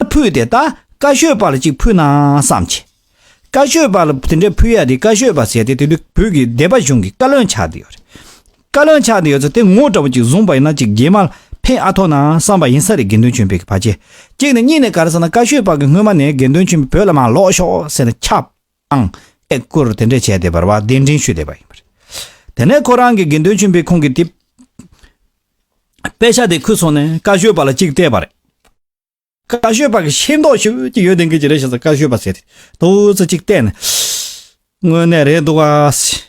ད་ཕུད་དེ་ད་ཀ་ཤོད་པ་ལ་ཅིག་ཕུད་ན་བསམ་བྱས། ཀ་ཤོད་པ་ལ་དེ་འདྲས་ཕུད་ཡ་དེ་ཀ་ཤོད་པ་ཟེར་ཏེ་དེ་དུས་བོད་ཀྱི་སྡེ་པ་གཞུང་གི་བཀའ་བློན་ཆགས་འདི་ཡོད་རེད། བཀའ་བློན་ཆགས་འདི་ཡོད་ཚོ་དེ་ངོ་འདྲ་བོ་ཅིག་བཟུང་པ་ཡིན་ན་ཅིག་རྗེས་མར་ཕན་ཨ་ཐོག་ན་བསམ་པ་ཡིན་ས་རེད་དགེ་འདུན་ཆོས་འཕེལ་གྱི་ཕ་ཆེ་གཅིག་ནས་གཉིས་ནས་ག་རེ་ཟེར་ན་ཀ་ཤོད་པ་གི་སྔོན་མ་ནས་དགེ་འདུན་ཆོས་འཕེལ་བོད་ལ་མ་ལོག་ཤོག་ཟེར་ནས་ཁྱབ། ཨང། ཨེ་སྐོར་དེ་འདྲས་བྱས་ཏེ་བར་བར་གདན་འདྲེན་ཞུས་བསྡད་པ་ཡིན་པ་རེད། དེ་ནས་ཁོ་རང་གི་དགེ་འདུན་ཆེན་པོའི་ཁོང་གི་དེ། དཔེ་ཆ་དེ་ཁུར་སོང་ནས་བཀའ་ཤོད་པ་ལ་ཅིག་བལྟས་པ་རེད། བཀའ་ཤོད་པ་གི་ཤེས་མདོག་ཞིག་ཅིག་ཡོད་དེ་འགའི་ཅི་རེད་བྱས་ཙང་བཀའ་ཤོད་པ་ཟེར་ཏེ་ཏོག་ཙེ་ཅིག་བལྟས་ནས། དངོས་གནས་རེད་འདུག་ག།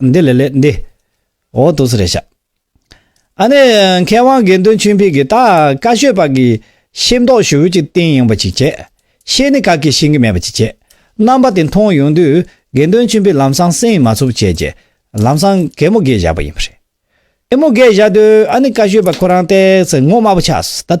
འདི་ལས་ལས་འདི། འོ་དོ་ཟི་རེ་བྱ། ཨ་ནི་མཁས་དབང་དགེ་འདུན་ཆོས་འཕེལ་གྱིས་ད་ཀ་ཤོད་པ་གིས་ཤེས་མདོག་ཞུ་བོད་ཀྱི་རྟེན་ཡིན་པ་ཅིག་བྱས། ཤེས་ནི་ག་གིས་ཤེས་ཀྱི་མེད་པ་ཅིག་བྱས། རྣམ་པ་དེ་མཐོང་ཡོང་དུས་དགེ་འདུན་ཆོས་འཕེལ་ལམ་སང་སེང་མ་ཚུགས་བྱས་རྗེས་ལམ་སང་གད་མོ་གད་བཞག་པ་ཡིན་པ་རེད། གད་མོ་གད་བཞག་དུས་ཨ་ནི་ཀ་ཤོད་པ་ཁོ་རང་བལྟས་ཚེ་ངོ་དམར་པོ་ཆགས་སོ་ད།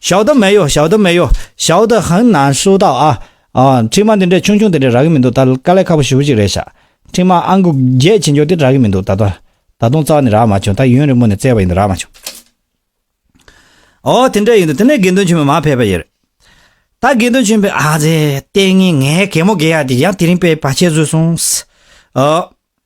ཞའོ་ཏོ་མེ་ཡོ་ཞའོ་ཏོ་མེ་ཡོ་ཞའོ་ཏོ་ཧང་ན་ཧྲུའུ་ཏའོ་ཨ། འཕྲིན་མ་འདི་འདྲའི་ཆུང་ཆུང་དེ་འདྲས་རག་གི་མི་འདུག་ད་དཀའ་ལས་ཁག་པོ་ཞུ་གཅིག་རེད་ཤག། འཕྲིན་མ་ཨང་དགུ་བརྒྱད་ཇེ་མགྱོགས་དེ་རག་གི་མི་འདུག་ད་ལྟ། ད་དུང་རྩ་བ་ནས་རག་མ་བྱུང་ད་ཡུན་རིང་པོ་ནས་བཙལ་བ་ཡིན་འདུག་རག་མ་བྱུང། ཨོ་དེ་འདྲས་ཡིན་འདུག་དེ་ནས་དགེ་འདུན་ཆེན་མོས་མར་ཕེབས་པ་ཡིན་རེད། ད་དགེ་འདུན་ཆེན་པོས་ཨ་ཙེ། ལྟས་ངན་ངའི་གད་མོ་བགད་ཡག་འདི་ཡང་དེ་རིང་པས་བ་ཆད་བཟོས་སོང། ཨོ།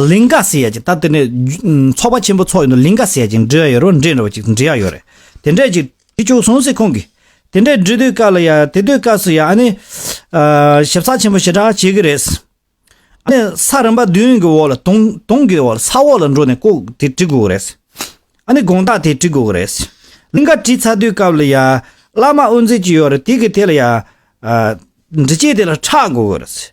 ལིང་ག་ཟེར་ཡ་ཅིག་ད་དེ་ནས་ཚོགས་པ་ཆེན་པོ་ཚོགས་ཡོད་འདུག་ལིང་ག་ཟེར་ཡ་ཅིག་འབྲི་ཡ་ཡོད་རོགས་འབྲི་འདྲ་བ་ཅིག་འབྲི་ཡ་ཡོད་རེད་དེ་འདྲ་ཅིག་འབྲི་བཅུག་སོང་ཟེར་ཁོང་གིས་དེ་འདྲ་འབྲི་དུས་སྐབས་ལ་ཡ་དེ་དུས་སྐབས་སུ་ཡ་ཨ་ནི། ཞིབ་ཚགས་ཆེན་པོ་ཞེ་དྲག་བྱེད་ཀྱི་རེད། ཨ་ནི་ས་རིམ་པ་བདུན་གྱི་འོག་ལ་དུང་དུང་གི་འོག་ལ་ས་འོག་ལ་འགྲོ་ནས་ལྐོག་དེ་བྲི་དགོས་ཀྱི་རེད། ཨ་ནི་དགོངས་དག་དེ་བྲི་དགོས་ཀྱི་རེད། ལིང་ག་བྲིས་ཚར་དུས་སྐབས་ལ་ཡ་བླ་མ་དབུ་འཛིན་གྱི་ཡོད་རེད་དེ་གི་དེ་ལ་ཡ། འབྲི་བྱེད་དེ་ལ་ཕྲག་དགོས་ཀྱི་རེད།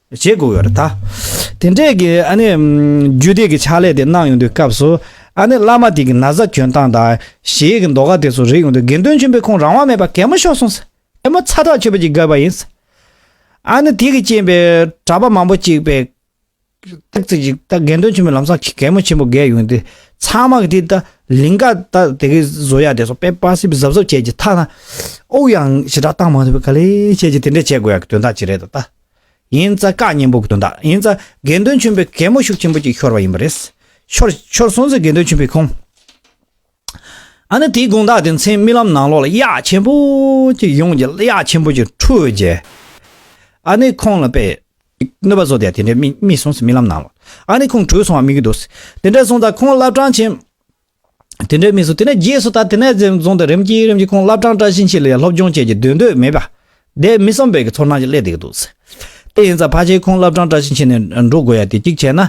བྱེད་དགོས་ཡོད་ད། དེ་འདྲའི་གི་ཨ་ནི། རྒྱུད་སྡེ་གི་ཕྱག་ལས་དེ་གནང་ཡོང་དུས་སྐབས་སུ། ཨ་ནི་བླ་མ་དེ་གི་ན་བཟའ་གྱོན་སྟངས་དང། གཞས་གི་མདོ་ཁ་དེ་ཚོ་རིག་ཡོང་དུས་དགེ་འདུན་ཆེན་པོས་ཁོང་རང་དབང་མེད་པར་གད་མོ་ཤོར་སོང་ཟེར། གད་མོ་ཚ་དྲག་ཆོད་པོ་ཅིག་བརྒལ་བ་ཡིན། ཨ་ནི་དེ་གི་རྐྱེན་པས་གྲྭ་པ་མང་པོ་གཅིག་པས། སྟག་རྩེ་གཅིག་ད་དགེ་འདུན་ཆེན་པོའི་ལམ་སང་གི་གད་མོ་ཆེན་པོ་བརྒལ་ཡོང་དུས། ཚང་མ་གི་དེ་ད་ལིང་ག་ད་དེ་གི་བཟོ་ཡ་དེ་ཚོ་པེ་པཱ་སིབ་སིབ་ཟབ་ཟབ་བྱས་ཀྱི་ཐ་ན། ཨོའུ་ཡང་ཞི་དྲག་བཏང་མ་ཐུབ་པའི་ག་ལེ་བྱས་ཀྱི་དེ་འདྲས་བྱེད་དགོས་ཡ་གི་དོན་དག་ཅིག་རེད་ད། ཡིན་ཙ་བཀའ་གཉན་པོ་དོན་དག་ཡིན་ཙ་དགེ་འདུན་ཆོན་པོའི་གད་མོ་ཤུགས་ཆེན་པོ་གཅིག་ཤོར་བ་ཡིན་པ་རེད། ཤོར་ཤོར་སོང་ཙི་དགེ་འདུན་ཆོན་པོའི་ཁོང་ཨ་ནི་དེའི་དགོངས་དག་དེ་མཚན་རྨི་ལམ་ནང་ལོག་ལ་གཡག་ཆེན་པོ་གཅིག་ཡོང་རྗེས་གཡག་ཆེན་པོ་གཅིག་ཁྲུས་རྗེས་ཨ་ནི་ཁོང་ལ་དཔེ་གནོད་པ་བཟོ་དེ་དེ་འདྲས་རྨིས་སོང་ཙི་རྨི་ལམ་ནང་ལོག་ཨ་ནི་ཁོང་ཁྲུས་སོང་བ་རྨིས་ཀྱི་འདུག་དེ་འདྲས་སོང་ཙ་ཁོང་བླ་བྲང་ཆེན་དེ་འདྲའི་མི་སུ་དེ་ནས་རྗེས་སུ་ད་དེ་ནས་རྩེ་རྫོང་དུ་རིམ་གྱིས་རིམ་གྱིས་ཁོང་བླ་བྲང་བཀྲ་ཤིས་འཁྱིལ་ལ་ཡང་སློབ་སྦྱོང་བྱེད་ཀྱི་འདོད་འདོད་མེད་པ། དེས་མི་བསམ་པའི་ཚོར་སྣང་ཞིག་སླེབས་འདུག་འདུག་ཟེར། དེ་ཡིན་ཙང་ཕ་ཆེའི་ཁོང་བླ་བྲང་བཀྲ་ཤིས་འཁྱིལ་ནས་འགྲོ་དགོས་ཡ་དེ་གཅིག་བྱས་ན།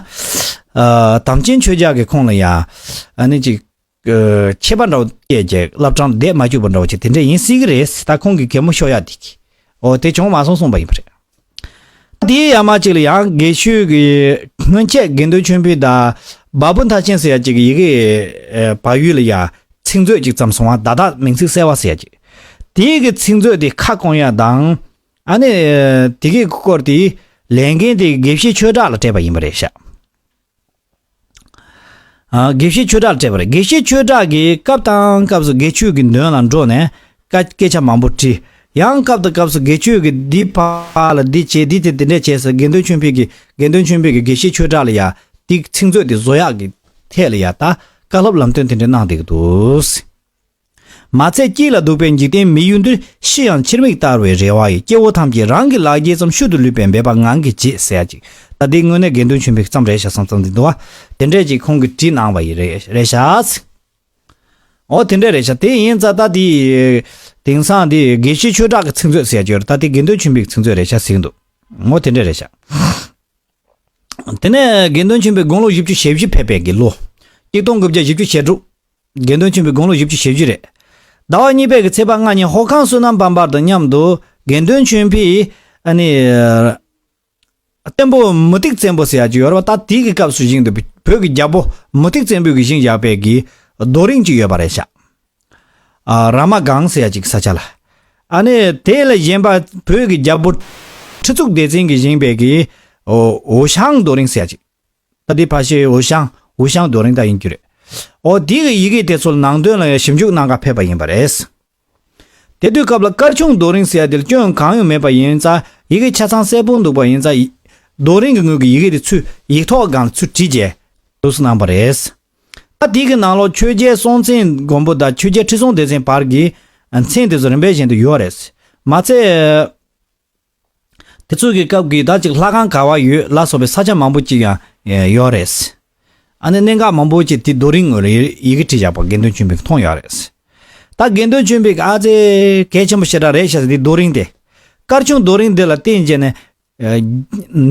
དམ་ཅན་ཆོས་རྒྱག་གི་ཁོང་ལ་ཡང། ནི་ཅིག། ཁྱད་པར་འདྲ་བོ་སྐྱེས་རྒྱལ་བླ་བྲང་འདས་མ་གྱུར་པ་འདྲ་བོ་ཅིག་དེ་འདྲས་ཡིན་སྲིད་གི་རེད་ཟེར་ད་ཁོང་གི་གད་མོ་ཤོར་ཡ་དེ་གི། འོ་དེ་བྱུང་མ་སོང་གསུངས་པ་ཡིན་པ་རེད། སྐབས་དེའི་ཡར་མར་ཅིག་ལ་ཡང་དགེ་ཤུལ་གྱི་སྔོན་ཆད་དགེ་འདུན་ཆོས་འཕེལ་དང་འབའ་བུ་མཐར་ཕྱིན་ཟེར་ཡ་ཅིག་གི་ཡི་གེ་བ་ཡུལ་ལ་ཡང་ཚིག་མཛོད་ཅིག་བརྩམས་སོང་བ་བརྡ་དག་མིང་ཚིག་གསལ་བ་ཟེར་ཡ་ཅིག་དེ་གི་ཚིག་མཛོད་དེ་ཁ་སྐོང་ཡ་དང། ཨ་ནི་དེ་གི་སྐོར་དེའི་ལས་འགན་དེ་དགེ་བཤེས་ཆོས་གྲགས་ལ་སྤྲད་པ་ཡིན་པ་རེད་ཤག། དགེ་བཤེས་ཆོས་གྲགས་སྤྲད་པར་དགེ་བཤེས་ཆོས་གྲགས་ཀྱིས་སྐབས་དང་སྐབས་སུ་དགེ་ཆོས་ཀྱི་མདུན་ལ་འགྲོ་ནས། སྐད་ཆ་མང་པོ་དྲིས། ཡང་སྐབས་དང་སྐབས་སུ་དགེ་ཆོས་ཀྱིས་འདི་ཕར་ལ་འདི་བྱས་འདི་དེ་དེ་འདྲས་བྱས་ཟེར་དགེ་འདུན་ཆོས་འཕེལ་གྱིས་དགེ་འདུན་ཆོས་འཕེལ་གྱིས་དགེ་བཤེས་ཆོས་གྲགས་ལ་ཡ་ཏིག་ཚིག་མཛོད་དེ་བཟོ་ཡག་གི་ཐད་ལ་ཡ་ཏཀ་སློབ་ལམ་སྟོན་དེ་འདྲས་གནང་བསྡད་ཀྱི་འདུག། མ་ཚད་སྐྱིད་ལ་སྡུག་པའི་འཇིག་རྟེན་མི་ཡུལ་འདིར་ཤི་ཡང་ཕྱིར་མིག་བལྟ་བའི་རེ་བ་ཡི་སྐྱེ་བོ་ཐམས་ཅད་རང་གི་ལག་འགྱེལ་ཙམ་ཤུལ་དུ་ལུས་པའི་འབད་པ་ངང་གིས་བྱེད་ཟེར་ཡ་ཅིག་ད་ལྟའི་དངོས་གནས་དགེ་འདུན་ཆོས་འཕེལ་གྱི་མཚམས་རེ་ཞག་སང་ཙང་འཛིན་འདུག་བ། དེ་འདྲས་ཅིག་ཁོང་གིས་བྲིས་གནང་བ་ཡི་རེ་རེ་ཞག་ཚིག། འོ་དེ་འདྲས་རེ་ཞག་དེ་ཡིན་ཙང་ད་ལྟའི་དེང་སང་འདི་དགེ་བཤེས་ཆོས་གྲགས་ཀྱི་ཚིག་མཛོད་ཟེར་རྒྱུར་ད་ལྟའི་དགེ་འདུན་ཆོས་འཕེལ་གྱི་ཚིག་མཛོད་རེ་ཞག་ཟིག་འདུག་འོ་དེ་འདྲས་རེ་ཞག། དེ་ནས་དགེ་འདུན་ཆོས་འཕེལ་དགུང་ལོ་བཞི་བཅུ་ཞེ་བཞི་ཕེབས་པའི་དགེ་ལོ། གཅིག་སྟོང་དགུ་བརྒྱ་བཞི་བཅུ་ཞེ་དྲུག། དགེ་འདུན་ཆེན་པོའི་དགུང་ལོ་བཞི་བཅུ་ཞེ་བཞི་རེད། ཟླ་བ་གཉིས་པའི་གི་ཚེས་པ་ལྔ་ཉིན་ཧོར་ཁང་བསོད་ནམས་བམ་པར་དང་མཉམ་དུ་དགེ་འདུན་ཆོས་འཕེལ། བསྟན་པོ་མུ་ཏིག་བཙན་པོ་ཟེར་ཡག་ཅིག་ཡོད་རེད་པ་ད་དེའི་གི་སྐབས་སུ་བཞེངས་འདུག་པའི་བོད་ཀྱི་རྒྱལ་པོ་མུ་ཏིག་བཙན་པོའི་གི་བཞེངས་བཞག་པའི་གི་རྡོ་རིང་ཅིག་ཡོད་པ་རེད་ཤག། ར་མ་སྒང་ཟེར་ཡག་ཅིག་གི་ས་ཆ་ལ། ཨཱ་ནི་དེ་ལ་བཞེངས་པ་བོད་ཀྱི་རྒྱལ་པོ། ཁྲི་གཙུག་བདེ་ཆེན་གི་བཞེངས་པའི་གི་འོ་ཞང་རྡོ་རིང་ཟེར་ཡག་ཅིག། ཨོ་དེའི་ཕ་ཤེའུ་ཤང་ཝུ་ཤང་རྡོ་རིང་དག་ཡིན་རྒྱུ་རེད། ཨོ་དེའི་གི་ཡི་གེ་དེ་ཚོ་ནང་དོན་ལ་ཡང་ཞིབ་འཇུག་གནང་ག་ཕེབས་པ་ཡིན་པ་རེད། དེ་དུས་སྐབས་ལ་སྐར་ཆུང་རྡོ་རིང་ཟེར་དེར་སྐྱོན་གང་ཡང་མེད་པ་ཡིན་ཙ་ཡི་གེ་ཆ་ཚང་གསལ་པོ་འདུག་པ་ཡིན་ཙ། རྡོ་རིང་གི་ངོས་ཀྱི་ཡི་གེ་དེ་ཚུད་ཡིག་ཐོག་སྒང་ལ་ཚུད་བྲིས་རྗེས་ལུགས་སུ་གནང་བ་རེད། ཨ་དེའི་གི་ནང་ལོགས་ཆོས་རྒྱལ་སྲོང་བཙན་སྒོམ་པོ་དང་ཆོས་རྒྱལ་ཁྲི་སྲོང་ལྡེ་བཙན་བར་གྱི་མཚན་དེ་ཚོ་རིམ་པའི་བཞིན་དུ་ཡོད་རེད། མ་ཚད། དེ་ཚོ་གི་སྐབས་ཀྱི་ད་ཅིག་ལྷ་ཁང་ག་བ་ཡོད་ལ་སོགས་པའི་ས་ཆ་མང་པོ་ཅིག་ཡང་ཡོད་རེད། ཨ་ནི་གནད་འགག་མང་པོ་ཅིག་དེ་རྡོ་རིང་ངོས་ལ་ཡི་གེ་བྲིས་བཞག་པ་དགེ་འདུན་ཆོས་འཕེལ་གྱིས་མཐོང་ཡོད་རེད། ད་དགེ་འདུན་ཆོས་འཕེལ་གྱིས་ཨ་ཙེ། གལ་ཆེན་པོ་ཞེ་དྲག་རེད་བཤད་ཟིན་འདི་རྡོ་རིང་སྟེ། སྐར་ཆུང་རྡོ་རིང་འདི་ལ་བརྟེན་བྱས་ནས།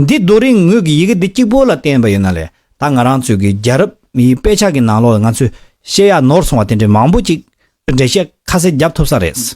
འདི་རྡོ་རིང་ངོས་ཀྱི་ཡི་གེ་འདི་གཅིག་པོ་ལ་བརྟེན་པ་ཡིན་ན་ལས་ད་ང་རང་ཚོས་ཀྱི་རྒྱལ་རབས་མིའི་དཔེ་ཆ་གི་ནང་ལོགས་ལ་ང་ཚོས་བཤད་ཡ་ནོར་སོང་བ་དེ་འདྲའི་མང་པོ་ཅིག་འགྲེལ་བཤད་ཁ་གསལ་རྒྱབ་ཐུབ་ས་རེད།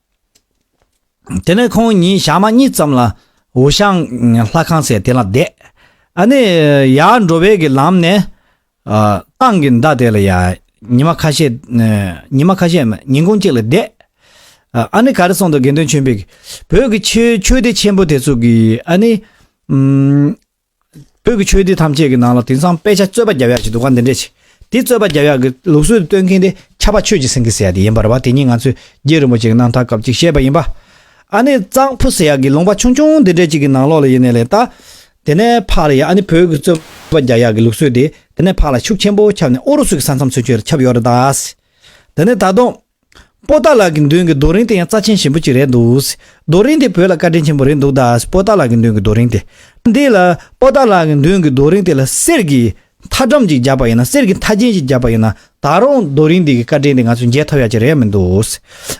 དེ་ནས་ཁོང་ཉིན་ཞག་མ་གཉིས་ཙམ་ལ་ཝུ་ཤང་ལྷ་ཁང་ཟེར་དེ་ལ་བསྡད། ཨ་ནི་ཡར་འགྲོ་བའི་གི་ལམ་ནས། ཏང་གི་མདའ་དེ་ལ་ཡ། ཉི་མ་ཁ་ཤས། ཉི་མ་ཁ་ཤས་མ་ཉིན་གུང་གཅིག་ལ་བསྡད། ཨ་ནི་ག་རེ་སོང་འདུག་དགེ་འདུན་ཆོས་འཕེལ་གྱིས་བོད་ཀྱི་ཆོས་སྡེ་ཆེན་པོ་དེ་ཚོ་གི་ཨ་ནི། བོད་ཀྱི་ཆོས་སྡེ་ཐམས་ཅད་ཀྱི་ནང་ལ་དེང་སང་དཔེ་ཆ་རྩོད་པ་རྒྱབ་ཡག་ཅིག་འདུག་ག་འདི་འདྲས་ཆེ། དེ་རྩོད་པ་རྒྱབ་ཡག་གི་ལུགས་སྲོལ་དུ་སྟོན་མཁན་དེ་ཁྱབ་པ་ཆོས་ཀྱི་སེང་གེ་ཟེར་ཡག་དེ་ཡིན་པར་བ་དེ་ཉིད་ང་ཚོས་རྒྱལ་རིན་པོ་ཆེ་གི་གནང་ཐག་སྐབས་ཅིག་བཤད་པ་ཡིན་པ། ཨ་ནི་གཙང་ཕུ་ཟེར་ཡག་གི་ལུང་པ་ཆུང་ཆུང་འདི་འདྲས་ཅིག་གི་ནང་ལོགས་ལ་ཡེ་ནས་ལས་བལྟ། དེ་ནས་ཕག་ལ་ཡ་ཨ་ནི་བོད་ཀྱི་རྩོད་པ་རྒྱབ་ཡག་གི་ལུགས་སྲོལ་དེ་དེ་ནས་ཕག་ལ་ཤུགས་ཆེན་པོ་ཁྱབ་ནས་ཨོ་རུ་སུ་ཀྱི་ས་མཚམས་ཚུན་ཆོད་ལ་ཁྱབ་ཡོད་རེད་ད། དེ་ནས་ད་དུང། པོ་ཏཱ་ལགས་ཀྱི་མདུན་གྱི་རྡོ་རིང་དེ་ཡང་རྩ་ཆེན་ཞིམ་པོ་གཅིག་རེད་འདུག། རྡོ་རིང་དེ་བོད་ལ་བཀའ་དྲིན་ཆེན་པོ་རེད་འདུག་ད། པོ་ཏཱ་ལགས་ཀྱི་མདུན་གྱི་རྡོ་རིང་དེ། འདི་ལ། པོ་ཏཱ་ལགས་ཀྱི་མདུན་གྱི་རྡོ་རིང་དེ་ལ་གསེར་གྱི། མཐའ་སྒྲོམ་གཅིག་རྒྱབ་པ་ཡིན་ན་གསེར་གྱི་མཐའ་རྒྱན་གཅིག་རྒྱབ་པ་ཡིན་ན། ད་རུང་རྡོ་རིང་འདི་གི་བཀའ་དྲིན་དེ་ང་ཚོས་འཇལ་ཐུབ་ཡ་གཅིག་རེད་མི་འདུག།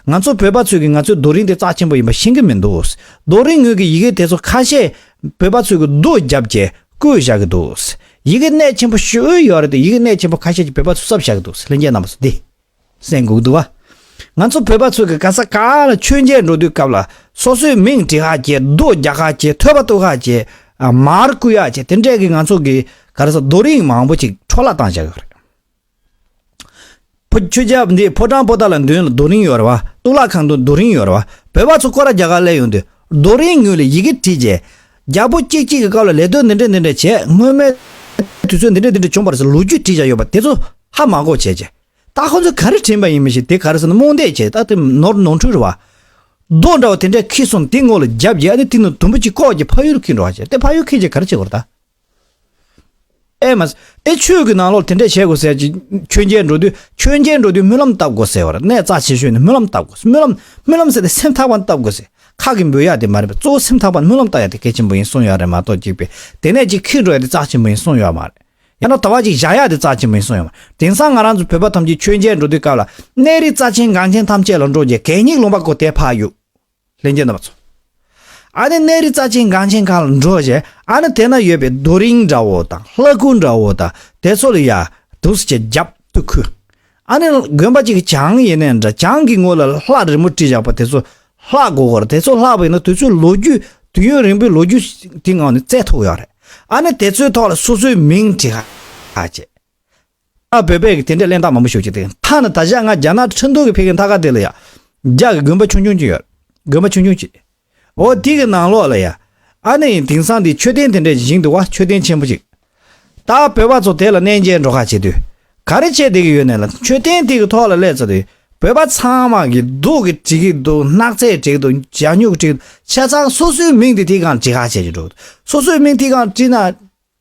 ང་ཚོ་བོད་པ་ཚོས་ཀྱི་ང་ཚོའི་རྡོ་རིང་དེ་རྩ་ཆེན་པོ་ཡིན་པ་ཤེས་ཀྱི་མི་འདུག། རྡོ་རིང་ངོས་ཀྱི་ཡི་གེ་དེ་ཚོ་ཁ་ཤས། བོད་པ་ཚོས་ཀྱི་རྡོ་རྒྱབ་ཀྱི། བརྐོས་བཞག་གི་འདུག། ཡི་གེ་གནད་ཆེན་པོ་ཤོས་ཡོད་རེད་དེ་ཡི་གེ་གནད་ཆེན་པོ་ཁ་ཤས་ཀྱི་བོད་པ་ཚོས་གསབ་བཞག་གི་འདུག་ལྷན་རྒྱས་རྣམ་པ་ཚོ་འདི། སེམས་འགུག་འདུག་བ། ང་ཚོ་བོད་པ་ཚོས་ཀྱི་ག་ས་ག་ལ་མཆོད་མཇལ་འགྲོ་དུས་སྐབས་ལ་སོ་སོའི་མིང་བྲི་ཧ་གྱེ་རྡོ་རྒྱག་ཧ་གྱེ་ཐོད་པ་གཏུག་ཧ་གྱེ། མར་བསྐུས་ཧ་གྱེ་དེ་འདྲས་ཀྱི་ང་ཚོ་གྱི་ག་ར་ས་རྡོ་རིང་མང་པོ་ཅིག་འཕྲོ་བརླག་བཏང་བཞག་ཡོད་རེད། ཕོ་ཁྱོད་ཅག་འདི་ཕོ་བྲང་པོ་ཏཱ་ལ་མདུན་ལ་རྡོ་རིང་ཡོད་རེད་བ་གཏུག་ལག་ཁང་དུ་རྡོ་རིང་ཡོད་རེད་བ་བོད་པ་ཚོ་སྐོར་ར་རྒྱག་ཧ་སླད་ཡོང་དུས་རྡོ་རིང་ངོས་ལ་ཡི་གེ་བྲིས་གྱེ། རྒྱ་པོ་སྐྱིད་སྐྱིད་ཀྱི་སྐབས་ལ་ལས་དོན་འདི་འདྲ་འདི་འདྲ་བྱས་སྔོན་མའི་དུས་ཚོད་འདི་འདྲ་འདི་འདྲ་བྱུང་བར་སོགས་ལོ་རྒྱུས་བྲིས་བཞག་ཡོད་པ་དེ་ཚོ་ཧ་མ་གོ་བྱས། ད་ཁོ་ཚོས་ག་རེ་དྲན་པ་ཡིན་མི་ཤེས་དེ་ག་རེ་ཟེར་ན་རྨོངས་དད་ཆེ་ད་དེ་ནོར་ནོར་འཁྲུལ་རེད་བ། རྡོ་འདྲ་བ་དེ་འདྲ་ཁེལ་སོང་དེ་ངོ་ལ་བརྒྱབ་རྗེས་ཨ་ནི་དེ་ནི་དུམ་བུ་གཅིག་ལྐོག་གྱི་ཕ་ཡུལ་ཁེལ་འགྲོ་བ་བྱས་ཏེ་ཕ་ཡུལ་ཁེལ་རྗེས་ག་རེ་བྱེད་དགོས་རེད་ད། ཨེ་མ། ཨེ་ཆོས་ཀྱི་ནང་ལོགས་དེ་འདྲས་བྱེད་དགོས་ཟེར་གྱི། ཆོས་རྒྱལ་འགྲོ་དུས་ཆོས་རྒྱལ་འགྲོ་དུས་སྨོན་ལམ་བཏབ་དགོས་ཟེར་བར་ནས་རྩ་ཆེ་ཤོས་ནི་སྨོན་ལམ་བཏབ་དགོས་སྨོན་ལམ། སྨོན་ལམ་ཟེར་ཏེ་སེམས་ཐག་པ་བཏབ་དགོས་ཟེར། ཁག་གིས་འབུལ་ཡག་དེ་མ་རེད་པས་གཙོ་བོ་སེམས་ཐག་པ་སྨོན་ལམ་བཏབ་ཡག་དེ་གལ་ཆེན་པོ་ཡིན་གསུངས་ཡག་རེད་མ་གཏོགས་གཅིག་པས་དེ་ནས་གཅིག་ཁེགས་འགྲོ་ཡག་དེ་རྩ་ཆེན་པོ་ཡིན་གསུངས་ཡག་མ་རེད། ཡང་ན་དོ་བ་གཅིག་བཞག་ཡག་དེ་རྩ་ཆེན་པོ་ཡིན་གསུངས་ཡག་མ་རེད། དེང་སང་ང་རང་ཚོ་བོད་པ་ཐམས་ཅད་ཆོས་རྒྱལ་འགྲོ་དུས་སྐབས་ལ། གནས་རི་རྩ་ཆེན་འགངས་ཆེན་ཐམས་ཅད་ལ་འགྲོ་རྗེས་གད་སྙིགས་ལུང་པ་གོ་དེ་ཕ་ཡུག། ལྷན་རྒྱས་རྣམ་པ་ཚོ། ཨ་ནི་གནས་རི་རྩ་ཆེན་གངས་ཆེན་གང་ལ་འགྲོ་བཞེད་ཨ་ནི་དེ་ན་ཡོད་པའི་རྡོ་རིང་འདྲ་བོ་དང་ལྷ་སྐུ་འདྲ་བོ་དང་དེ་ཚོ་ལ་ཡར་དུག་སེར་གྱི་རྒྱབ་གཏུགས་ཁུལ་ཨ་ནི་དགོན་པ་གཅིག་གི་བྱང་ཡིན་ནའི་འདྲ་བྱང་གི་ངོས་ལ་ལྷ་རི་མོ་བྲིས་བཞག་པ་དེ་ཚོ་ལྷ་དགོ་གོ་ར་དེ་ཚོ་ལྷ་བོ་ཡིན་ན་དུས་ཚོད་ལོ་རྒྱུས་དུས་ཡུན་རིང་པོའི་ལོ་རྒྱུས་དེ་ངང་ནས་བཙལ་ཐུབ་ཡོད་རེད་ཨ་ནི་དེ་ཚོའི་ཐོག་ལ་སོ་སོའི་མིང་བྲིས་ཤག་བྱེད། ཨ་བོད་པས་དེ་འདྲའི་གླེན་རྟགས་མང་པོ་ཤོད་ཀྱི་འདུག་མཐའ་ན་ད་ཆ་ང་རྒྱ་ནག་ཁྲི་འདུ་གི་ཕེབས་མཁན་མཐའ་ཁག་དེ་ལ་ཡང། རྒྱ་གི་དགོན་པ་ཆུང་ཆུང་གཅིག་ཡོད། དགོན་པ་ཆུང་ཆུང་གཅིག། འོ་དེ་གི་ནང་ལོགས་ལ་ཡང། ཨ་ནེ་ཡིན་དེང་སང་དེའི་མཆོད་རྟེན་དེ་འདྲའི་བཞེངས་འདུག་བ་མཆོད་རྟེན་ཆེན་པོ་གཅིག། ད་བོད་པ་ཚོ་དེ་ལ་གནས་མཇལ་འགྲོ་ཁ་བྱེད་དུས། ག་རེ་བྱེད་བསྡད་ཀྱི་ཡོད་ནས་ལ་མཆོད་རྟེན་དེ་གི་ཐོག་ལ་སླེབས་ཚར་དུས་བོད་པ་ཚང་མ་གི་སྡུག་གི་བྲིས་ཀྱི་འདུག་སྣག་ཚས་བྲིས་འདུག་བྱ་སྨྱུག་བྲིས་འདུག་ཆ་ཚང་སོ་སོའི་མིང་དེ་ཐིག་ཁང་བྲིས་ཁ་བྱེད་ཀྱི་འགྲོ་གི་འདུག་སོ་སོའི་མིང་ཐིག་ཁང་བྲིས་ན།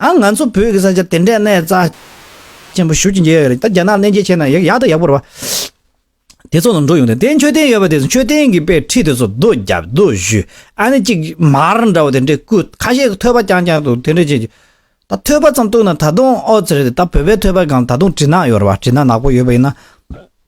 ཨ་ང་ཚོ་བོད་ཀྱི་ས་ཆ་དེ་འདྲའི་གནས་རྩ་ཆེན་པོ་ཞུགས་ཀྱིན་ཡོད་རེད་ད་རྒྱ་ནག་གནས་མཇལ་བྱས་ན་ཡག་ཡག་ད་ཡག་པོ་རེད་བ། དེ་ཚོ་ལ་འགྲོ་ཡོང་དེ་དེ་མཆོད་རྟེན་ཡོད་པ་དེ་མཆོད་རྟེན་གྱི་པའི་ཁྲི་དེ་ཚོ་རྡོ་བརྒྱབ་རྡོ་བཞུ་ཨ་ནི་གཅིག་མར་འདྲ་བོ་དེ་འདྲས་བརྐུས་ཁ་ཤས་ཀྱི་ཐོད་པ་རྐྱང་རྐྱང་འདུག་དེ་འདྲས་བྱས་ད་ཐོད་པ་ཙམ་བཏུགས་ན་ད་དུང་ཨོ་ཙི་རེད་ད་བོད་པའི་ཐོད་པ་གང་ད་དུང་བྲིས་ནག་ཡོད་རེད་བ་བྲིས་ནག་ནག་པོ་ཡོད་པ་ཡིན་ན།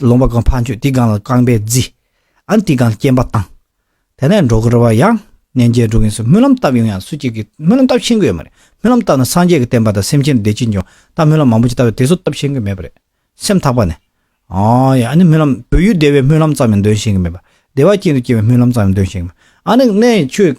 ལོང་བ་གང་འཕང་ཆོད་དེ་གང་ལ་རྐང་པས་བརྫི། ཨན་དེ་གང་ལ་སྐྱེམས་པ་བཏང། དེ་ནས་འགྲོ་དགོས་རེ་བ་ཡང། གནས་མཇལ་འགྲོ་གིན་སུ་སྨོན་ལམ་བཏབ་ཡོང་ཡང་སུ་གཅིག་གིས་སྨོན་ལམ་བཏབ་ཤེས་གི་ཡོད་མ་རེད་སྨོན་ལམ་བཏབ་ན་སངས་རྒྱས་ཀྱི་བསྟན་པ་དང་སེམས་ཅན་བདེ་སྐྱིད་འབྱུང་ད་སྨོན་ལམ་མང་པོ་ཅིག་བཏབ་ཡོད་དེ་ཚོ་བཏབ་ཤེས་གི་མེད་པ་རེད་སེམས་ཐག་པ་ནས། ཨོ་ཡ་ཨ་ནི་སྨོན་ལམ་བོད་ཡུལ་བདེ་བའི་སྨོན་ལམ་ཙམ་ཡང་འདོན་ཤེས་གི་མེད་པ་བདེ་བ་ཅན་དུ་སྐྱེ་བའི་སྨོན་ལམ་ཙམ་ཡང་འདོན་ཤེས་གི་མེད་ཨ་ནི་གནས་ཆོས།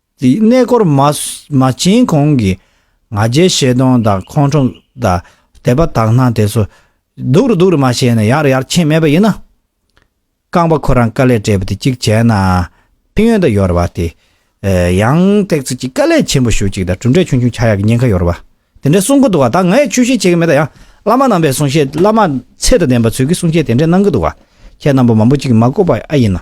དེའི་གནས་སྐོར་མ་བྱིན་གོང་གི་ང་རྒྱལ་བཤད་སྟོང་དང་ཁོང་ཁྲོ་དང་དད་པ་དག་སྣང་དེ་ཚོ་སྡུག་རུ་སྡུག་རུ་མ་བྱས་ནས་ཡར་རུ་ཡར་ཕྱིན་མེད་པ་ཡིན་ན། རྐང་པ་ཁོ་རང་དཀའ་ལས་སྤྲད་པ་དེ་གཅིག་བྱས་ན་ཕན་ཡོན་དང་ཡོར་བ་དེ། ཡང་ཐེག་ཚུལ་གྱི་དཀའ་ལས་ཆེན་པོ་ཞུ་གཅིག་དང་གྲུབ་འབྲས་ཆུང་ཆུང་ཆགས་ཡག་གི་ཉེན་ཁ་ཡོར་བ་དེ་འདྲའི་གསུང་གི་འདུག་བ་ད་ངས་ཆོས་བཤད་བྱེད་ཀྱི་མེད་ད་ཡང་བླ་མ་རྣམ་པའི་གསུང་བཤད་བླ་མ་ཚད་དང་ལྡན་པ་ཚོས་ཀྱི་གསུང་བཤད་དེ་འདྲས་གནང་གི་འདུག་བ་ཁྱེད་རྣམ་པ་མང་པོ་གཅིག་མ་གོ་པ་ཨེ་ཡིན་ན།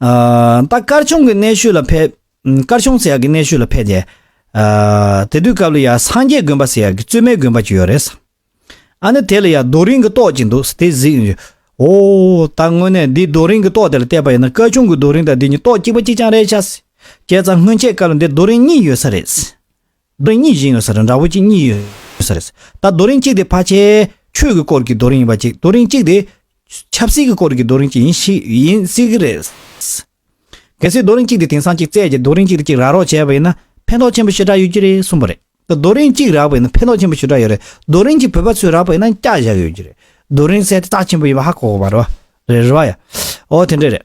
ད་སྐར་ཆུང་གི་གནས་ཤུལ་ལ་ཕེབས། སྐར་ཆུང་ཟེར་ཡག་གི་གནས་ཤུལ་ལ་ཕེབས། དེ་དུས་སྐབས་ལ་ཡ་སངས་རྒྱས་དགོན་པ་ཟེར་ཡག་གི་བཙུན་མའི་དགོན་པ་གཅིག་ཡོད་རེད། ཨ་ནི་དེ་ལ་ཡ་རྡོ་རིང་གི་ཏོག་ཅིག་འདུག་དེ་གཟིགས། ཨོ། ད་དངོས་གནས་འདི་རྡོ་རིང་གི་ཏོག་དེ་ལ་བལྟས་པ་ཡིན་ན་སྐར་ཆུང་གི་རྡོ་རིང་དང་འདི་གཉིས་ཏོག་གཅིག་པ་གཅིག་རྐྱང་རེད། བྱས་ཙང་སྔོན་ཆད་སྐར་ལ་འདིར་རྡོ་རིང་གཉིས་ཡོད་ས་རེད། རྡོ་རིང་གཉིས་བཞིན་ཡོད་ས་རེད་འདྲ་བོ་གཅིག་གཉིས་ཡོད་ས་རེད། ད་རྡོ་རིང་གཅིག་དེ་ཕ་ཁྱེད་ཁྱོད་ཀྱི་སྐོར་གྱི་རྡོ་རིང་ཡིན་པ་གཅིག་རྡོ་རིང་གཅིག་དེ། ཆབ་སྲིད་ཀྱི་སྐོར་གྱི་རྡོ་རིང་གཅིག་ཡིན་ཞིག་ཡིན་སྲིད་ཀྱི་རེད། གལ་སྲིད་རྡོ་རིང་གཅིག་དེ་དེང་སང་གཅིག་བཙལ་གྱི་རྡོ་རིང་གཅིག་དེ་གཅིག་རག་རོགས་བྱས་པ་ཡིན་ན་ཕན་ཐོགས་ཆེན་པོ་ཞེ་དྲག་ཡོད་ཀྱི་རེད་གསུངས་པ་རེད། ད་རྡོ་རིང་གཅིག་རག་པ་ཡིན་ན་ཕན་ཐོགས་ཆེན་པོ་ཞེ་དྲག་ཡོད་རེད་རྡོ་རིང་གཅིག་བོད་པ་ཚོས་རག་པ་ཡིན་ན་སྐྱག་བཞག་ཡོད་ཀྱི་རེད་རྡོ་རིང་གསལ་ཐེ་ཚགས་ཆེན་པོ་ཡིན་པ་ཧ་གོ་གོ་བ་རེད་བ། རེད་རེད་བ་ཡ། འོ་དེ་འདྲས་རེད།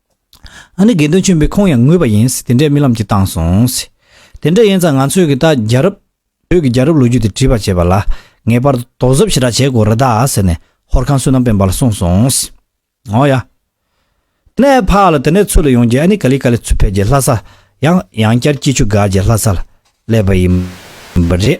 ཨ་ནི་དགེ་འདུན་ཆེན་པོའི་ཁོང་ཡང་ངུས་པ་ཡིན། དེ་འདྲའི་རྨི་ལམ་གྱི་བཏང་སོང། དེ་འདྲ་ཡིན་ཙང་ང་ཚོས་གི་ད་རྒྱ་རབས། བོད་ཀྱི་རྒྱ་རབས་ལོ་རྒྱུས་དེ་བྲིས་པར་བྱས་པ་ལ། ངེས་པར་དུ་དོགས་གཟབ་ཞེ་དྲག་བྱེད་དགོས་རེད་ད་ཟེར་ནས་ཧོར་ཁང་བསོད་ནམས་དཔལ་འབར་ལ་གསུངས་སོང། འོ་ཡ། དེ་ནས་ཕ་ལ་དེ་འདྲའི་ཚུལ་ལ་ཡོང་རྗེས་ཨ་ནི་ག་ལི་ག་ལི་ཚུར་ཕེབས་རྗེས་ལྷ་ས། ཡང་ཡང་བསྐྱར་སྐྱིད་ཆུ་སྒར་གྱི་ལྷ་ས་ལ་སླེབས་པ་ཡིན། པ་རེད།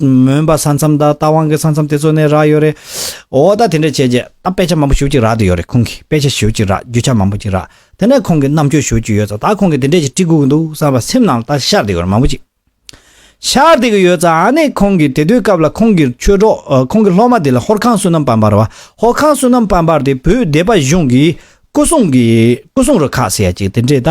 མོན་པ་ས་མཚམས་དང་རྟ་དབང་གི་ས་མཚམས་དེ་ཚོ་ནས་རག་ཡོད་རེད། འོ་ད་དེ་འདྲ་བྱས་རྗེས་ད་དཔེ་ཆ་མང་པོ་ཞུ་གཅིག་རག་འདོད་ཡོད་རེད་ཁོང་གིས་དཔེ་ཆ་ཞུ་གཅིག་རག་རྒྱུ་ཆ་མང་པོ་གཅིག་རག་དེ་འདྲ་ཁོང་གིས་རྣམ་དཔྱོད་ཞུ་གཅིག་ཡོད་ཙང་ད་ཁོང་གིས་དེ་འདྲས་ཀྱི་བཀྲིས་གོ་གི་འདུག་བསམ་པ་སེམས་ནང་ལ་ད་ཤར་བསྡད་ཡོད་རེད་མང་པོ་གཅིག་ཤར་བསྡད་ཀྱི་ཡོད་ཙང་ནས་ཁོང་གིས་དེ་དུས་སྐབས་ལ་ཁོང་གིས་ཆོས་གྲོགས་ཁོང་གི་སློབ་མ་དེ་ལ་ཧོར་ཁང་བསོད་ནམས་དཔལ་འབར་བ་ཧོར་ཁང་བསོད་ནམས་དཔལ་འབར་དེ་བོད་སྡེ་པ་གཞུང་གིས་སྐུ་སྲུང་གིས་སྐུ་སྲུང་རུ་ཁག་ཟེར་ཡ་གཅིག་དེ་འདྲས་ད་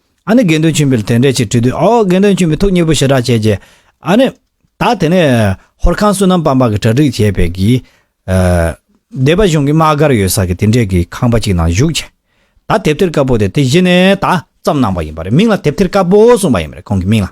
ཨཱ་ནི་དགེ་འདུན་ཆེན་པོས་དེ་འདྲའི་ཕྱིར་དྲིས་དུས་ཨོ་དགེ་འདུན་ཆེན་པོས་ཐུགས་མཉེས་པོ་ཞེ་དྲག་བྱས་ཀྱི། ཨཱ་ནི། ད་དེ་ནས་ཧོར་ཁང་བསོད་ནམས་སྤངས་པ་གི་གྲ་སྒྲིག་བྱས་པས་ཀྱི། སྡེ་པ་གཞུང་གི་དམག་སྒར་ཡོད་ས་གི་དེ་འདྲའི་གི་ཁང་པ་ཅིག་ནང་བཞུགས་བྱས། ད་དེབ་ཐེར་དཀར་པོ་དེ་དེ་གཞི་ནས་ད་ཙམ་གནང་པ་ཡིན་པ་རེད་མིང་ལ་དེབ་ཐེར་དཀར་པོ་གསུངས་པ་ཡིན་པ་རེད་ཁོང་གི་མིང་ལ།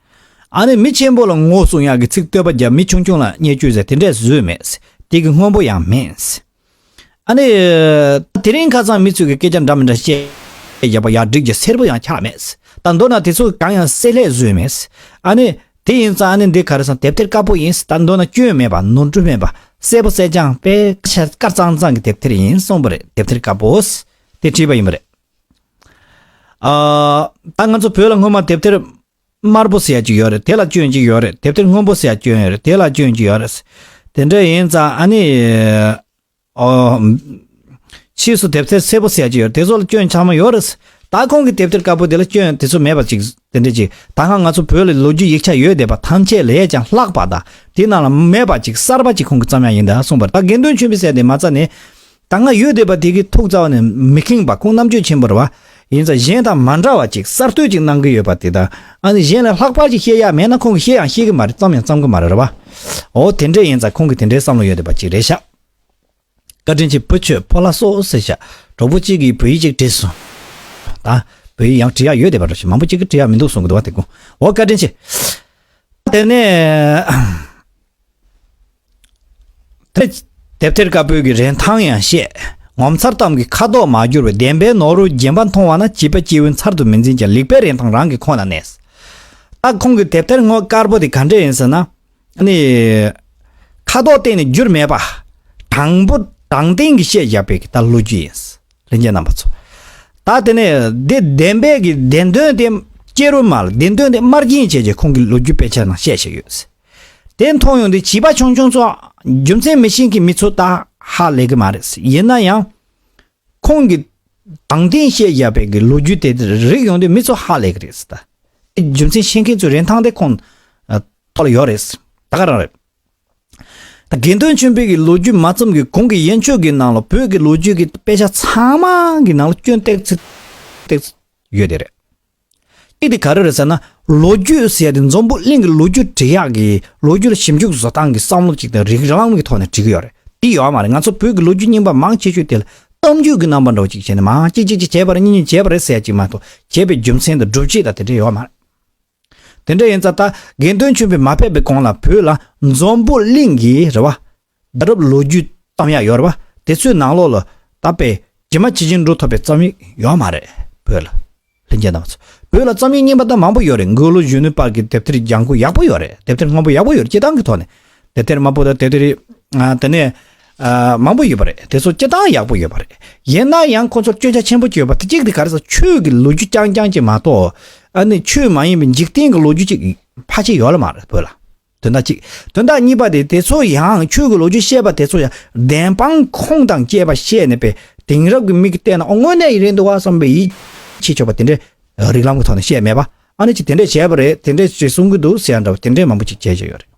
ཨ་ནི་མི་ཆེན་པོ་ལ་ངོ་སྲུང་གཡག་གི་ཚིག་བསྟོད་པ་རྒྱབ་མི་ཆུང་ཆུང་ལ་བརྙས་བཅོས་ཟེར་དེ་འདྲས་བཟོས་མེད། དེ་གི་དངོས་པོ་ཡང་མེད། ཨ་ནི། ད་དེ་རིང་ཁ་སང་མི་ཚོས་གི་སྐད་ཆ་འདྲ་མི་འདྲ་བཤད་བཞག་པ་ཡག་སྒྲིག་གི་སེར་པོ་ཡང་ཆགས་མེད། ད་མདོར་ན་དེ་ཚོ་གང་ཡང་བསྲེ་ལྷད་བཟོས་མེད། ཨ་ནི། དེ་ཡིན་ཙང་ཨ་ནི་འདི་ག་རེ་སང་དེབ་ཐེར་དཀར་པོ་ཡིན། ད་མདོར་ན་སྐྱོན་མེད་པ་ནོར་འཁྲུལ་མེད་པ་གསལ་པོ་གསལ་རྐྱང་དཔེ་དཀར་གཙང་གཙང་གི་དེབ་ཐེར་ཡིན་གསུངས་པ་རེད་དེབ་ཐེར་དཀར་པོ། དེ་བྲིས་པ་ཡིན་པ་རེད། ད་ང་ཚོ་བོད་ལ་སྔོན་མ་དེབ་ཐེར་དམར་པོ་ཟེར་ཡ་གཅིག་ཡོད་རེད་དེ་ལ་སྐྱོན་གཅིག་ཡོད་རེད་དེབ་ཐེར་སྔོན་པོ་ཟེར་ཡ་སྐྱོན་ཡོད་རེད་དེ་ལ་སྐྱོན་གཅིག་ཡོད་རེད། དེ་འདྲ་ཡིན་ཙང་ཨ་ནི། ཕྱིས་སུ་དེབ་ཐེར་སེར་པོ་ཟེར་ཡ་གཅིག་ཡོད་རེད་དེ་ཚོ་ལ་སྐྱོན་ཆང་མ་ཡོད་རེད། ད་ཁོང་གི་དེབ་ཐེར་དཀར་པོ་དེ་ལ་སྐྱོན་དེ་ཚོ་མེད་པ་ཅིག་དེ་འདྲ་ཅིག་ད་ཧང་ང་ཚོ་བོད་ལ་ལོ་རྒྱུས་ཡིག་ཆ་ཡོད་བསྡད་པ་ཐམས་ཅད་ལས་ཀྱང་ལྷག་པ་དང་དེ་རྣམས་ལ་མེད་པ་ཅིག་གསར་པ་ཅིག་ཁོང་གི་བརྩམས་ཡ་ཡིན་དཱ་གསུངས་པར་ད་དགེ་འདུན་ཆོས་འཕེལ་ཟེར་དེ་མ་རྩ་ནས། ད་སྔ་ཡོད་བསྡད་པ་དེ་གི་ཐུགས་རྩ་བ་ནས་མི་ཁེངས་པ་ཁོང་རྣམ་དཔྱོད་ཆེན་པོར་བ། ཡིན་ཙང་གཞན་དང་མ་འདྲ་བ་ཅིག་གསར་གཏོད་ཅིག་གནང་གི་ཡོད་པ་དེ་དང་ཨ་ནི་གཞན་ལས་ལྷག་པར་ཅིག་བཤད་ཡག་མེད་ན་ཁོང་གི་ཤེས་ཡང་ཤེས་གི་མ་རེད་བརྩམ་ཡང་བརྩམ་གི་མ་རེད་རེད་བ། འོ་དེ་འདྲས་ཡིན་ཙང་ཁོང་གི་དེ་འདྲའི་བསམ་བློ་ཡོད་བསྡད་པ་ཅིག་རེད་ཤག། བཀའ་དྲིན་ཆེ་བུ་ཁྱོད་ཕོ་ལྷ་སོ་ཟེར་ཤག་གྲོགས་པོ་གཅིག་གིས་བོད་ཡིག་ཅིག་བྲིས་སོང། ད་བོད་ཡིག་ཡང་བྲི་ཡག་ཡོད་བསྡད་པ་རེད་ཤག་མང་པོ་གཅིག་གིས་བྲི་ཡག་མི་འདུག་གསུང་གི་འདུག་བ་དེ་གོ་འོ་བཀའ་དྲིན་ཆེ། ད་དེ་ནས། དེབ་ཐེར་དཀར་པོའི་གི་རེན་ཐང་ཡང་བཤད། ངོ་མཚར་གཏམ་གྱི་ཁ་དོག་མ་བསྒྱུར་བའི་བདེན་པའི་ནོར་བུ་རྒྱན་པ་མཐོང་བ་ན་བྱིས་པ་སྐྱེ་བོའི་མཚར་དུ་མི་འཛིན་ཀྱང་ལེགས་པའི་རིན་ཐང་རང་གི་ཁོག་ན་གནས། ད་ཁོང་གི་དེབ་ཐེར་དངོས་དཀར་པོ་དེ་ག་འདྲས་ཡིན་ཟེར་ན། ནི། ཁ་དོག་གཏན་ནས་བསྒྱུར་མེད་པ། དྲང་པོ་དྲང་བདེན་གྱི་བཤད་བཞག་པའི་གི་ད་ལོ་རྒྱུས་ཡིན། ལྷན་རྒྱས་རྣམ་པ་ཚོ། ད་དེ་ནས་འདི་བདེན་པའི་གི་བདེན་དོན་དེ། སྐྱེ་རུ་མ་ལ་བདེན་དོན་དེ་དམར་རྒྱན་བྱས་རྗེས་ཁོང་གི་ལོ་རྒྱུས་དཔེ་ཆ་ནང་བཤད་བཞག་ཡོད། དེ་མཐོང་ཡོང་དུས་བྱིས་པ་ཆུང་ཆུང་ཚོ་རྒྱུ་མཚན་མི་ཤེས་གི་མི་ཚོ་ད་ཧ་ལས་གི་མ་རེད་ཡིན་ན་ཡང། ཁོང་གི་དང་བསྟན་བཤད་བཞག་པའི་གི་ལོ་རྒྱུས་དེ་རིག་ཡོང་དུས་མི་ཚོ་ཧ་ལས་གི་རེད་ད། རྒྱུ་མཚན་ཤེས་མཁན་ཚོའི་རིན་ཐང་དེ་ཁོང་ཐོག་ལ་ཡོད་རེད་ད་ག་རང་རེད། ད་དགེ་འདུན་ཆེན་པོའི་གི་ལོ་རྒྱུས་མ་བརྩམས་གི་གོང་གི་ཡན་ཆོད་གི་ནང་ལ་བོད་གི་ལོ་རྒྱུས་གི་དཔེ་ཆ་ཚང་མ་གི་ནང་ལ་སྐྱོན་སྟེགས་ཚིག་ཡོད་དེ་རེད། གཅིག་དེ་ག་རེ་རེད་ཟེར་ན། ལོ་རྒྱུས་ཟེར་ཏེ་འཛོམས་པོ་གླིང་གི་ལོ་རྒྱུས་འབྲི་གཡག་གིས་ལོ་རྒྱུས་ཞིབ་འཇུག་བཟོ་སྟངས་ཀྱི་བསམ་བློ་ཅིག་དང་རིགས་རང་གི་ཐོག་ནས་བྲིས་ཀྱི་ཡོད་རེད། འདི་ཡོད་མ་རེད་ང་ཚོ་བོད་ཀྱི་ལོ་རྒྱུས་རྙིང་པ་མང་ཆེ་ཤོས་དེ་ལ་གཏམ་རྒྱུད་ཀྱི་རྣམ་པ་འདྲ་བོ་ཅིག་བྱས་ནས་མང་གཅིག་གཅིག་གཅིག་བྱས་པ་རེད་གཉིས་གཉིས་བྱས་པ་རེད་ཟེར་ཅིག་མ་གཏོགས་བྱས་པའི་རྒྱུ་མཚན་དང་སྒྲུབ་བྱེད་དང་དེ་འདྲ་ཡོད་མ་རེད། དེ་འདྲ་ཡིན་ཙང་ད་དགེ་འདུན་ཆོས་འཕེལ་མ་ཕེབས་པའི་གོང་ལ་བོད་ལ་འཛོམས་པོ་གླིང་གིས་རེད་བ། རྒྱལ་རབས་ལོ་རྒྱུས་གཏམ་ཡག་ཡོད་རེད་པ་དེ་ཚོའི་ནང་ལོག་ལ་ད་དཔེ་ཇི་མ་ཇི་བཞིན་འགྲོ་ཐུབ་པའི་རྩོམ་ཡིག་ཡོད་མ་རེད་བོད་ལ། ལྷན་རྒྱས་གནང་བ་ཚོ་བོད་ལ་རྩོམ་ཡིག་རྙིང་པ་དང་མང་པོ་ཡོད་རེད་འགོས་ལོ་གཞོན་ནུའི་བར་གྱི་དེབ་ཐེར་ལྗང་ཁུ་ཡག་པོ་ཡོད་རེད་དེབ་ཐེར་སྔོན་པོ་ཡག་པོ་ཡོད་རེད་སྐྱེ་སྟངས་ཀྱི་ཐོག་ནས་དེབ་ཐེར་དམར་པོ་དང་དེབ་ཐེར་དེ་ནས་མང་པོ་ཡོད་པ་རེད་དེ་ཚོ་སྐྱེ་སྟངས་ཡག་པོ་ཡོད་པ་རེད་ཡིན་ན་ཡང་ཁོ་ཚོར་སྐྱོན་ཆ་ཆེན་པོ་བྱོས་པ་དེ་གཅིག་དེ་ག་རེ་ཟ་ཆོས་ཀྱི་ལོ་རྒྱུས་རྐྱང་རྐྱང་ཅིག་མ་གཏོགས་ཨ་ནི་ཆོས་མ་ཡིན་པའི་འཇིག་རྟེན་གྱི་ལོ་རྒྱུས་ཅིག་ཕ་ཆེ་ཡོད་ལ་མ་རེད་བོད་ལ། དོན་དག་གཅིག་དོན་དག་གཉིས་པ་དེ་དེ་ཚོ་ཡང་ཁྱོད་ཀྱི་ལོ་རྒྱུས་བཤད་པ་དེ་ཚོ་ཡང་བདེན་དཔང་ཁུངས་དང་བཅས་པ་བཤད་ནས་པའི་དེང་རབས་ཀྱི་མིག་གིས་བལྟས་ན་ཨོ་དངོས་གནས་ཡིན་རེད་འདུག་བ་བསམ་པའི་ཡིད་ཆེས་ཆོག་པ་དེ་འདྲའི་རིགས་ལམ་གྱི་ཐོག་ནས་བཤད་མེད་པ་ཨ་ནི་ཅིག་དེ་འདྲས་བྱས་པ་རེད་དེ་འདྲས་ཅིག་གསུང་གི་འདུག་ཟེར་ཡ་འདྲ་བ་དེ་འདྲས་མང་པོ་ཅིག་བྱས་བྱས་ཡོད་རེད།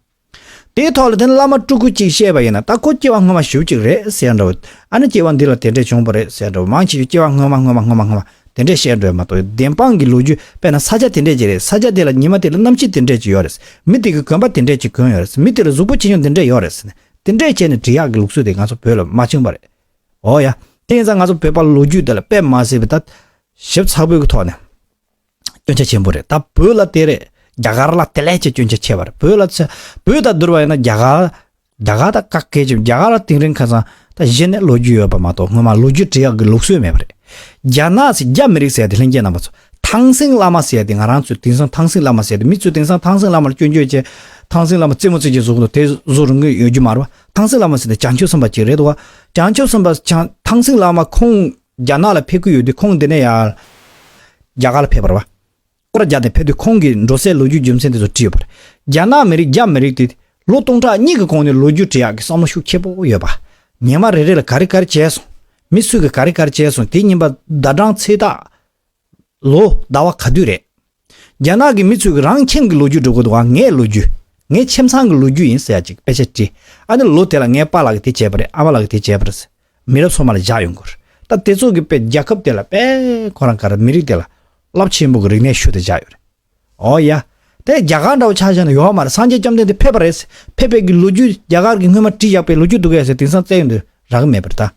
དེའི་ཐོག་ལ་དེ་ནི་བླ་མ་སྤྲུལ་སྐུ་གཅིག་བཤད་པ་ཡིན་ན་ད་ཁོ་སྐྱེ་བ་སྔོན་མ་ཞུ་གཅིག་རེད་ཟེར་ཡ་འདྲ་བ་ཨ་ནི་སྐྱེ་བ་འདི་ལ་དེ་འདྲས་བྱུང་བ་རེད་ཟེར་འདྲ་བ་མང་ཆེ་ཤོས་སྐྱེ་བ་སྔོན་མ་སྔོན་མ་སྔོན་མ་སྔོན་མ་སྔོན་མ། དེ་འདྲས་བཤད་འདོད་མ་གཏོགས་བདེན་དཔང་གི་ལོ་རྒྱུས་དཔེ་ན་ས་ཆ་དེ་འདྲས་ཀྱི་རེད་ས་ཆ་དེ་ལ་ཉི་མ་དེ་ལ་གནམ་ཕྱི་དེ་འདྲས་ཀྱི་ཡོད་རེད་མི་དེ་གི་གོན་པ་དེ་འདྲས་ཀྱི་གོན་ཡོད་རེད་མི་དེ་ལ་གཟུགས་པོ་ཆེ་ཆུང་དེ་འདྲས་ཡོད་རེད་ཟེར་ནས་དེ་འདྲས་བྱས་ནས་འབྲི་གཡག་གི་ལུགས་སྲོལ་དེ་ང་ཚོ་བོད་ལ་མ་བྱུང་བ་རེད། འོ་ཡ། དེ་ཡིན་ཙང་ང་ཚོ་བོད་པ་ལ་ལོ་རྒྱུས་དེ་ལ་དཔེ་མ་ཟེར་བའི་ད། ཞིབ་ཚགས་པོའི་གི་ཐོག་ནས། སྐྱོན་ཆ་ཆེན་པོ་རེད་ད་བོད་ལ་དེ་རེད་རྒྱ་གར་ལ་དེ་ལས་ཀྱི་སྐྱོན་ཆ་ཆེ་བ་རེད་བོད་ལ་ཚེ་བོད་ད་བསྡུར་བ་ཡིན་ན་རྒྱ་གར། རྒྱ་གར་དང་བཀག་སྐད་ཅེས་པ་རྒྱ་གར་ལ་དེང་རིང་ཁ་སང་ད་གཞི་ནས་ལོ་རྒྱུས་ཡོད་པ་མ་གཏོགས་སྔོན་མ་ལོ་རྒྱུས་འབྲི་ཡག་གི་ལུགས་སྲོལ་མེད་པ་རེད། རྒྱ་ནག་ཚོས་རྒྱ་མི་རིགས་ཟེར་ཏེ་ལྷན་རྒྱས་རྣམ་པ་ཚོ་ཐང་སིང་བླ་མ་ཟེར་ཏེ་ང་རང་ཚོས་དེང་སང་ཐང་སིང་བླ་མ་ཟེར་ཏེ་མི་ཚོས་དེང་སང་ཐང་སིང་བླ་མར་སྐྱོན་བརྗོད་བྱེད། ཐང་སིང་བླ་མ་རྩེད་མོ་རྩེད་ཀྱི་བཟོ་གི་འདུག་དེ་བཟོ་རུང་གི་ཡོད་རྒྱུ་མ་རེད་པ་ཐང་སིང་བླ་མ་ཟེར་ཏེ་བྱང་ཆུབ་སེམས་དཔའ་གཅིག་རེད་འདུག་བ་བྱང་ཆུབ་སེམས་དཔའ་བྱང་ཐང་སིང་བླ་མ་ཁོང་རྒྱ་ནག་ལ་ཕེབས་ཀྱི་ཡོད་དུས་ཁོང་འདི་ནས་ཡར་རྒྱ་གར་ལ་ཕེབས་པར་བ། སྐོར་བརྒྱ་དེ་ཕེབས་དུས་ཁོང་གིས་འགྲོ་སའི་ལོ་རྒྱུས་རྒྱུ་མཚན་དེ་ཚོ་བྲིས་ཡོད་པ་རེད། རྒྱ་ནག་མི་རིགས་རྒྱ་མི་རིགས་དེ། ལོ་སྟོང་ཕྲག་གཉིས་ཀྱི་གོང་ནས་ལོ་རྒྱུས་འབྲི་ཡག་གི་བསམ་བློ་ཤུགས་ཆེ་པོ་ཡོད་པ། ཉི་མ་རེ་རེ་ལ་ག་རེ་ག་རེ་བྱས་སོང། མི་སུས་གི་ག་རེ་ག་རེ་བྱས་སོང་དེ་ཉིན་པ་ཟླ་གྲངས་ཚེས་རྟགས། ལོ་ཟླ་བ་ག་དུས་རེད། རྒྱ་ནག་གི་མི་ཚོས་གི་རང་ཁྱིམ་གི་ལོ་རྒྱུས་འབྲི་དགོས་འདུག་ཨ་ངའི་ལོ་རྒྱུས། ངའི་ཁྱིམ་ཚང་གི་ལོ་རྒྱུས་ཡིན་ཟེར་ཡག་ཅིག་དཔེ་ཆ་བྲིས། ཨ་ནི་ལོ་དེ་ལ་ངའི་པ་ལགས་གི་དེ་བྱས་པ་རེད་ཨ་མ་ལགས་གི་དེ་བྱས་པ་རེད་ཟེར། མི་རབས་སོ་མ་ལ་བཞག་ཡོང་དགོས། ད་དེ་ཚོ་གི་དཔེ་རྒྱ་ཁབ་དེ་ལ་དཔེ། ཁོ་རང་ག་ར་མི་རིགས་དེ་ལ། རླབས་ཆེན་པོ་གི་རིག་གནས་ཤུལ་དུ་བཞག་ཡོད་རེད། ཨོ་ཡ། དེ་རྒྱ་གར་འདྲ་བོ་ཆགས་བཞག་ན་ཡོག་མ་རེད་སངས་རྒྱས་བཅོམ་ལྡན་འདས་ཕེབས་པ་རེད། ཕེབས་པའི་གི་ལོ་རྒྱུས་རྒྱ་གར་གི་སྔོན་མ་བྲིས་བཞག་པའི་ལོ་རྒྱུས་འདུག་གས་ཟེར་དེང་སང་བཙལ་ཡོང་དུས་རག་གི་མེད་པ་རེད་ད།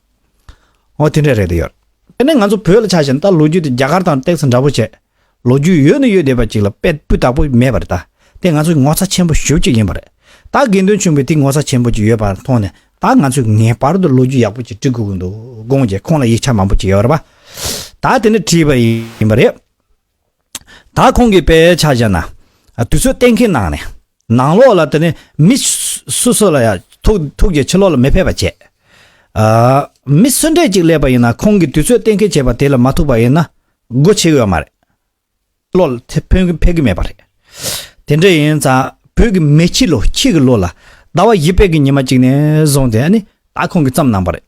ཨོ་དེ་འདྲ་རེད་དོ་ཡོད། དེ་ནས་ང་ཚོ་བོད་ལ་ཆགས་བཞག་ན་ད་ལོ་རྒྱུས་དེ་རྒྱ་གར་དང་སྟེགས་སུ་འདྲ་བོ་བྱས། ལོ་རྒྱུས་ཡོད་ནི་ཡོད་བསྡད་པ་ཅིག་ལ་དཔེ་སྤུས་དག་པོ་མེད་པར་གདའ། དེ་ང་ཚོའི་ངོ་ཚ་ཆེན་པོ་ཞུ་གཅིག་ཡིན་པ་རེད། ད་དགེ་འདུན་ཆུང་བས་དེ་ངོ་ཚ་ཆེན་པོ་ཅིག་ཡོད་པ་མཐོང་ནས་ད་ང་ཚོས་ངེས་པར་དུ་ལོ་རྒྱུས་ཡག་པོ་ཅིག་བྲི་དགོས་ཀྱི་འདུག་དགོངས་རྒྱས་ཁོང་ལ་ཡིག་ཆ་མང་པོ་ཅིག་ཡོད་རེད་པ། ད་དེ་འདྲ་བྲིས་པ་ཡིན་པ་རེད། ད་ཁོང་གིས་དཔེ་ཆ་བཞག་ན། དུས་ཚོད་གཏན་འཁེལ་གནང་ནས། ནང་ལོགས་ལ་དེ་ནས་མི་སུ་སུ་ལ་ཡང་ཐུག་ཐུག་རྗེས་ཕྱི་ལོགས་ལ་མི་ཕེབས་པ་བྱས། མི་གསོན་གྲས་ཅིག་སླེབས་པ་ཡིན་ན་ཁོང་གིས་དུས་ཚོད་གཏན་འཁེལ་བྱས་པ་དེ་ལ་མ་ཐུག་པ་ཡིན་ན་སྒོ་ཕྱེ་ཡོད་མ་རེད། བློ་ལ་དེ་ཕན་གི་ཕན་གི་མེད་པ་རེད། དེ་འདྲ་ཡིན་ཙང་བོད་ཀྱི་མི་སྤྱི་ལོ་ཁྱི་གི་ལོ་ལ་ཟླ་བ་བཞི་པད་ཀྱི་ཉི་མ་གཅིག་ནས་བཟུང་སྟེ་ཨ་ཨ་ཁོང་གིས་བརྩམས་གནང་པ་རེད།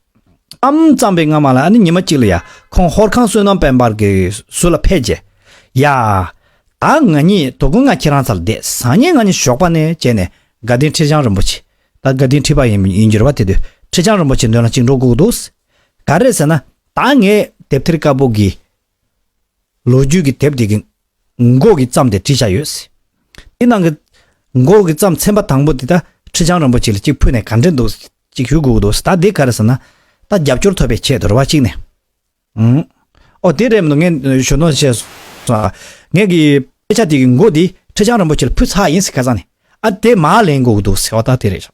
ཨམ་བརྩམས་པའི་སྔ་མ་ལ་ཉི་མ་གཅིག་ལ་ཡ་ཁོང་ཧོར་ཁང་བསོད་ནམས་དཔལ་འབར་གྱི་ཟུར་ལ་ཕེབས་རྗེས། ཡ། ད་ང་གཉིས་དོ་དགོང་ང་ཁྱེད་རང་ཚ་ལ་བསྡད་སང་ཉིན་ང་གཉིས་ཞོགས་པ་ནས་བྱས་ནས་དགའ་ལྡན་ཁྲི་བྱང་རིན་པོ་ཆེ། ད་དགའ་ལྡན་ཁྲི་པ་ཡིན་འགྱུར་བ་དེ་དུས་ཁྲི་བྱང་རིན་པོ་ཆེ་འདོན་ལ་གཅིག་འགྲོ་སྒུག་འདུག་ག་རེད་ཟེར་ན། ད་ངས་དེབ་ཐེར་དཀར་པོ་གི་ལོ་རྒྱུས་ཀྱི་དེབ་དེ་གི་མགོ་གི་བརྩམས་དེ་བྲིས་བཞག་ཡོད། དེ་ནང་གི་མགོ་གི་བརྩམས་ཚན་པ་དང་པོ་དེ་ད་ཁྲི་བྱང་རིན་པོ་ཆེ་ལ་གཅིག་ཕུལ་ནས་ག་འདྲས་འདུག་ཅིག་ཞུ་དགོས་ཀྱི་འདུག་ད་དེ་ག་རེ་ཟེར་ན་ད་རྒྱབ་སྐྱོར་ཐོབ་པའི་ཆེད་དུ་རེ་བ་གཅིག་ནས་ཨང། ཨོ་དེ་རེད་མི་འདུག་ངས་ཞུ་དོན་བྱས་སོང་ཨ། ངས་ཀྱི་དཔེ་ཆ་དེ་གི་མགོ་དེ་ཁྲི་བྱང་རིན་པོ་ཆེ་ལ་ཕུལ་ཚར་ཡིན་ཟེར་ཁ་སང་ནས་ཨ་དེ་མ་ལེན་དགོས་ཀྱི་འདུག་ཟེར་བ་ད་དེ་རེད་བཞག།